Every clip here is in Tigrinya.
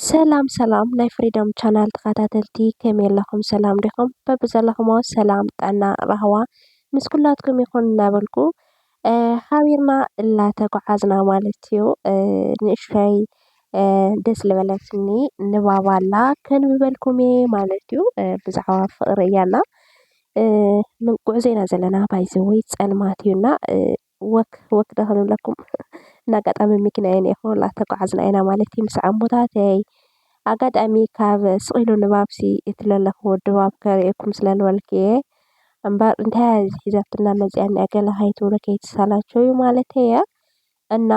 ሰላም ሰላም ናይ ፍሪደም ቻናል ተኸታተልቲ ከመይ ኣለኹም ሰላም ዲኹም? በብዘለኹሞ ሰላም ጥዕና ራህዋ ምስ ኩላትኩም ይኹን እናበልኩ ሓቢርና እናተጓዓዝና ማለት እዩ። ንእሽተይ ደስ ዝበለትኒ ንባብ ኣላ ከንብበልኩም እየ ማለት እዩ። ብዛዕባ ፍቅሪ እያ እና ጉዕዞ ኢና ዘለና ባይ ዘ ዌይ ፀልማት እዩ እና ወክ ወክ ዶ ክንብለኩም እንዳ ኣጋጣሚ መኪና እየ እኒኦ እናተጓዓዝና ኢና ማለት እዩ ምስ ዓቦታተይ ኣጋጣሚ ካብ ስቅ ኢሉ ንባብ ሲ እቲ ለለክዎ ድባብ ከርእየኩም ስለ ዝበልኩ እየ። እምበር እንታይ እያ እዚ ሒዛትና መፂኣ እኒኣ ገለ ከይትብሉ ከይትሰላቸዉ ማለተይ እየ። እና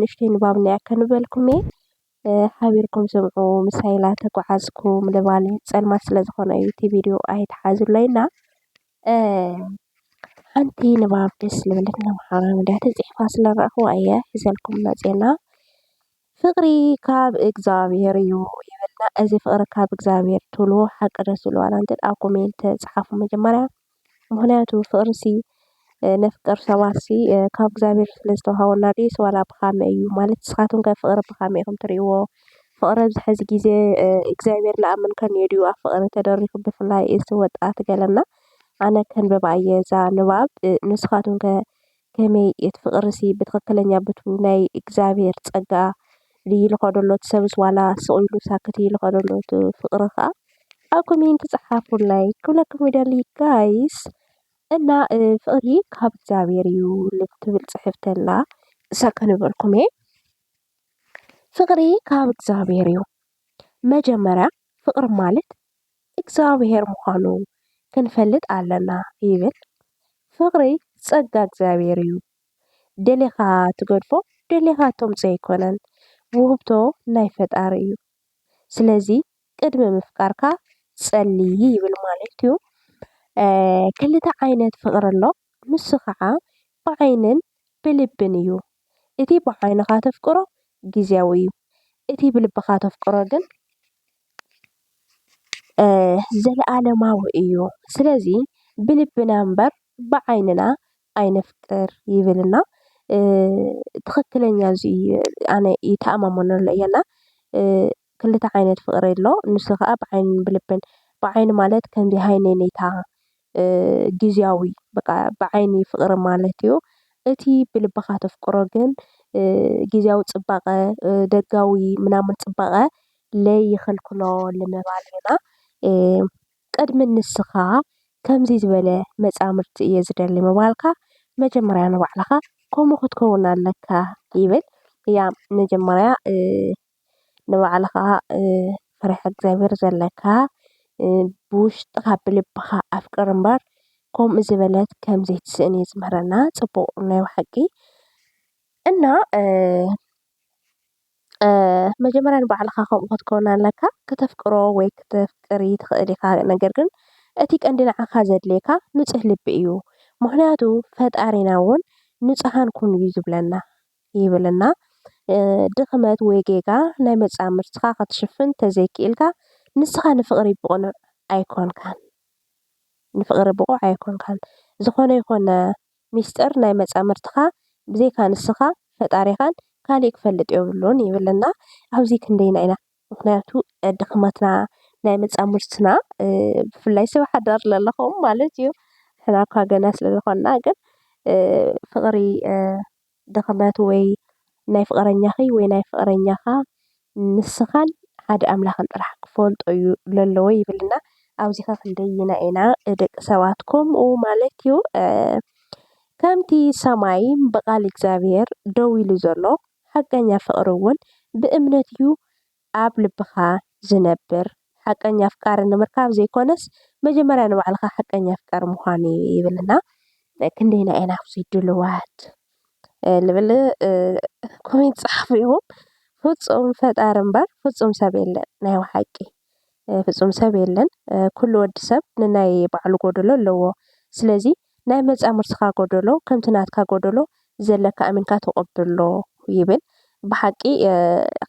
ንእሽተይ ንባብ እኒኣ ከንበልኩም እየ። ሓቢርኩም ስምዑ ምሳይ ኢላ ተጓዓዝኩም ልባል ፀልማት ስለ ዝኾነ እዩ እቲ ቪድዮ ኣይትሓዙለይ እና ሓንቲ ንባብ ደስ ልበለትና ማሕበራዊ ሚድያ ተፂሕፋ ስለ ረኣኹዋ እየ ሒዘልኩም መፂኤና። ፍቅሪ ካብ እግዝኣብሄር እዩ ይብልና እዚ ፍቅሪ ካብ እግዝኣብሄር ትብልዎ ሓቂ ዶ ትብልዎ ዋላ እንተድኣ ኣብ ኮሜንት ጻሓፉ መጀመርያ ምክንያቱ ፍቅሪ ሲ ነፍቅር ሰባት ሲ ካብ እግዝኣብሄር ስለ ዝተዋሃበና ድዩስ ዋላ ብካመይ እዩ ማለት ንስካትኩም ከ ፍቅሪ ብካመይ ኢኩም ትርእይዎ ፍቅሪ ኣብዚ ሐዚ ግዜ እግዝኣብሄር ልኣምን ከኒኦ ድዩ ኣብ ፍቅሪ ተደሪኩ ብፍላይ እዚ ወጣት ገለና ኣነ ከንብባ እየ እዛ ንባብ ንስካትኩም ከ ከመይ እቲ ፍቅሪሲ ብትክክለኛ ብቱ ናይ እግዛብሄር ፀጋ ድዪ ልከዶ ኣሎ እቲ ሰብስ ዋላ ስቅ ኢሉ ሳክት እዪ ልከዶ ኣሎ እቲ ፍቅሪ ከኣ ኣብ ኮሜንቲ ፀሓፉላይ ክብለኩም ይደሊ ጋይስ እና ፍቅሪ ካብ እግዛብሄር እዩ ልትብል ፅሕፍቲ ኣላ እሳ ከንበልኩም እየ ፍቅሪ ካብ እግዛብሄር እዩ መጀመርያ ፍቅሪ ማለት እግዚኣብሔር ምዃኑ ክንፈልጥ ኣለና ይብል። ፍቕሪ ጸጋ እግዚኣብሔር እዩ። ደሊኻ ትገድፎ ደሊኻ ተምጽኦ ኣይኮነን ውህብቶ ናይ ፈጣሪ እዩ። ስለዚ ቅድሚ ምፍቃርካ ጸሊ ይብል ማለትዩ። ክልተ ዓይነት ፍቕሪ ኣሎ። ንሱ ኸዓ ብዓይንን ብልብን እዩ። እቲ ብዓይንኻ ተፍቅሮ ግዝያዊ እዩ፣ እቲ ብልብኻ ተፍቅሮ ግን ዘለኣለማዊ እዩ። ስለዚ ብልብና እምበር ብዓይንና ኣይነፍቅር ይብል እና ትኽክለኛ እዙይ ኣነ ይተኣማመነሉ እየ እና። ክልተ ዓይነት ፍቅሪ ኣሎ ንሱ ከኣ ብዓይንን ብልብን ብዓይኒ ማለት ከምዚ ሃይለኝታ ግዝያዊ በቃ ብዓይኒ ፍቅሪ ማለት እዩ። እቲ ብልብኻ ተፍቅሮ ግን ግዝያዊ ጽባቀ ደጋዊ ምናምን ጽባቀ ለይኽልክሎ ንምባል ኢና። ቅድሚ ንስኻ ከምዚ ዝበለ መጻምድቲ እየ ዝደሊ ምባልካ መጀመርያ ንባዕልኻ ከምኡ ክትከውን ኣለካ ይብል። ያ መጀመርያ ንባዕልኻ ፈሪሓ እግዚኣብሄር ዘለካ ብውሽጥኻ ብልብኻ ኣፍቅር እምበር ከምኡ ዝበለት ከም ዘይትስእን እዩ ዝምህረና ፅቡቕ ናይ ብሓቂ እና መጀመርያ ንባዕልኻ ከምኡ ክትከውን ኣለካ ክተፍቅሮ ወይ ክተፍቅሪ ትኽእል ኢኻ ነገር ግን እቲ ቀንዲ ንዓኻ ዘድልየካ ንፁህ ልቢ እዩ ምኽንያቱ ፈጣሪና እውን ንፁሃን ኩኑ እዩ ዝብለና። ይብልና። ድኽመት ወይ ጌጋ ናይ መጻምድትኻ ክትሽፍን ተዘይኪኢልካ ንስኻ ንፍቕሪ ብቕኑዕ ኣይኮንካን ንፍቕሪ ብቑዕ ኣይኮንካን። ዝኾነ ይኾነ ሚስጥር ናይ መጻምድትኻ ብዘይካ ንስኻ ፈጣሪኻን ካሊእ ክፈልጥ የብሉን ይብልና። ኣብዚ ክንደየናይ ኢና ምኽንያቱ ድኽመትና ናይ መጻምድትና ብፍላይ ሰብ ሓዳር ለለኹም ማለት እዩ። ሕና እኳ ገና ስለ ዝኾንና ግን ፍቕሪ ድኽመት ወይ ናይ ፍቕረኛኺ ወይ ናይ ፍቕረኛኻ ንስኻን ሓደ ኣምላኽን ጥራሕ ክፈልጦ እዩ ለለዎ ይብልና ኣብዚኸ ክንደይና ኢና ደቂ ሰባት ከምኡ ማለት እዩ ከምቲ ሰማይ ብቓል እግዚኣብሔር ደው ኢሉ ዘሎ ሓቀኛ ፍቕሪ እውን ብእምነት እዩ ኣብ ልብኻ ዝነብር ሓቀኛ ኣፍቃሪ ንምርካብ ዘይኮነስ መጀመርያ ንባዕልኻ ሓቀኛ ኣፍቃሪ ምዃን እዩ ይብል እና ክንደይና ኢና ኣብዙይ ድልዋት ልብል ኮሜንት ጸሓፉ ይኹም ፍጹም ፈጣሪ እምበር ፍጹም ሰብ የለን ናይ ባሓቂ ፍጹም ሰብ የለን ኩሉ ወዲ ሰብ ንናይ ባዕሉ ጎደሎ ኣለዎ ስለዚ ናይ መጻምርትኻ ጎደሎ ከምቲ ናትካ ጎደሎ ዘለካ ኣሚንካ ተቀብሎ ይብል ብሓቂ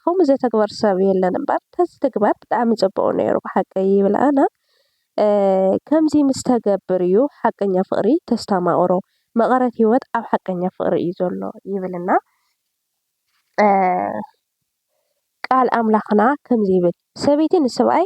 ከምኡ ዘተግበር ሰብ የለን እምበር ተዝትግበር ብጣዕሚ ጽቡቅ ነይሩ ብሓቂ ይብል ኣነ ከምዚ ምስ ተገብር እዩ ሓቀኛ ፍቅሪ ተስታማቅሮ መቀረት ሂወት ኣብ ሓቀኛ ፍቅሪ እዩ ዘሎ ይብል እና ቃል ኣምላኽና ከምዚ ይብል ሰበይቲ ንስብኣይ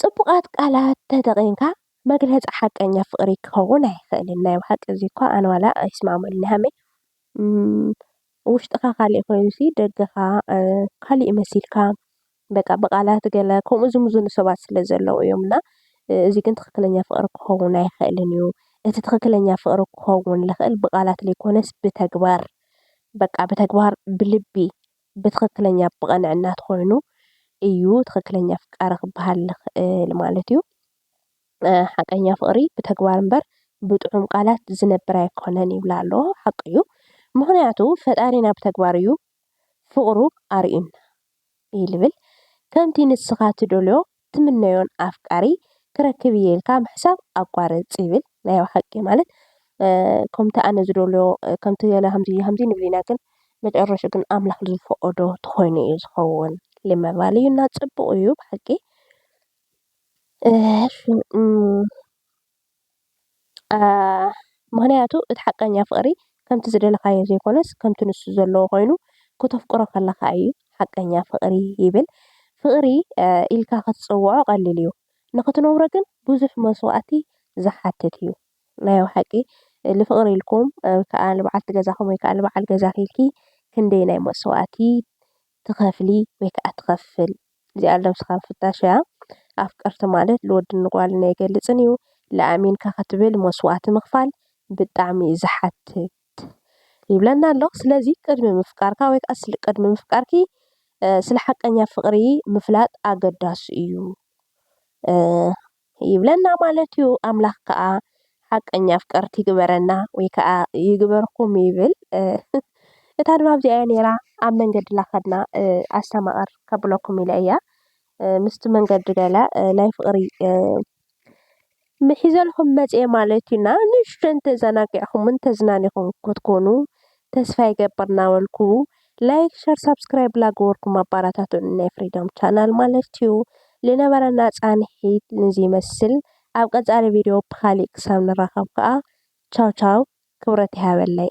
ጽቡቓት ቃላት ተጠቒምካ መግለጺ ሓቀኛ ፍቕሪ ክኸውን ኣይኽእልን ናይ ብሓቂ እዚ እኳ ኣነ ዋላ ኣይስማዕመሉን ሃመይ ውሽጥኻ ካልእ ኮይኑሲ ደገኻ ካልእ መሲልካ በቃ ብቓላት ገለ ከምኡ ዝምዝኑ ሰባት ስለ ዘለዉ እዮም እና እዚ ግን ትኽክለኛ ፍቕሪ ክኸውን ኣይኽእልን እዩ እቲ ትኽክለኛ ፍቕሪ ክኸውን ልኽእል ብቓላት ለይኮነስ ብተግባር በቃ ብተግባር ብልቢ ብትኽክለኛ ብቐንዕና ተኾይኑ እዩ ትኽክለኛ ኣፍቃሪ ክበሃል ዝኽእል ማለት እዩ። ሓቀኛ ፍቕሪ ብተግባር እምበር ብጥዑም ቃላት ዝነብር ኣይኮነን ይብላ ኣሎ ሓቁ እዩ። ምኽንያቱ ፈጣሪና ብተግባር እዩ ፍቕሩ ኣርእዩና ይብል። ከምቲ ንስኻ ትደልዮ ትምነዮን ኣፍቃሪ ክረክብ እየ ኢልካ ምሕሳብ ኣቋርጽ ይብል ናይ ብሓቂ ማለት ከምቲ ኣነ ዝደልዮ ከምቲ ገለ ከምዚ ከምዚ ንብል ኢና ግን መጨረሽኡ ግን ኣምላኽ ዝፈቐዶ ተኾይኑ እዩ ዝኸውን ልምዕባል እዩ እና ጽቡቕ እዩ ብሓቂ። ምኽንያቱ እቲ ሓቀኛ ፍቅሪ ከምቲ ዝደለኻዮ ዘይኮነስ ከምቲ ንሱ ዘለዎ ኮይኑ ክተፍቅሮ ከለኻ እዩ ሓቀኛ ፍቅሪ ይብል። ፍቅሪ ኢልካ ክትጽውዖ ቀሊል እዩ ንኽትነብሮ ግን ብዙሕ መስዋእቲ ዝሓትት እዩ። ናይ ብሓቂ ንፍቅሪ ኢልኩም ወይ ከዓ ንበዓልቲ ገዛኹም ወይ ከዓ ንበዓል ገዛኺ ኢልኪ ክንደየናይ መስዋእቲ ትኸፍሊ ወይ ከኣ ትኸፍል እዚኣ ለብስኻ ምፍታሽ እያ። ኣፍቀርቲ ማለት ልወድን ንጓልን ኣይገልጽን እዩ። ልኣሚንካ ክትብል መስዋእቲ ምኽፋል ብጣዕሚ እዩ ዝሓትት ይብለና ኣሎ። ስለዚ ቅድሚ ምፍቃርካ ወይ ከኣ ስለ ቅድሚ ምፍቃርኪ ስለ ሓቀኛ ፍቕሪ ምፍላጥ ኣገዳሲ እዩ። ይብለና ማለት እዩ። ኣምላኽ ከኣ ሓቀኛ ኣፍቀርቲ ይግበረና ወይ ከኣ ይግበርኩም ይብል። እታ ንባብ እዚኣ እያ ነይራ ኣብ መንገዲ ላኸድና ኣስተማቕር ከብለኩም ኢለ እያ ምስቲ መንገዲ ገለ ናይ ፍቕሪ ምሒዘልኩም መጽኤ ማለት እዩና ንእሽቶ እንተዘናጊዕኹምን ተዝናኒኹም ክትኮኑ ተስፋ ይገብር እናበልኩ ላይክ ሸር ሳብስክራይብ ላገበርኩም ኣባራታቱኒ ናይ ፍሪዶም ቻናል ማለት እዩ። ልነበረና ጻንሒት ንዚ ይመስል ኣብ ቀጻሊ ቪድዮ ብካሊእ ክሳብ ንራኸብ ከኣ ቻው ቻው ክብረት ይሃበለይ።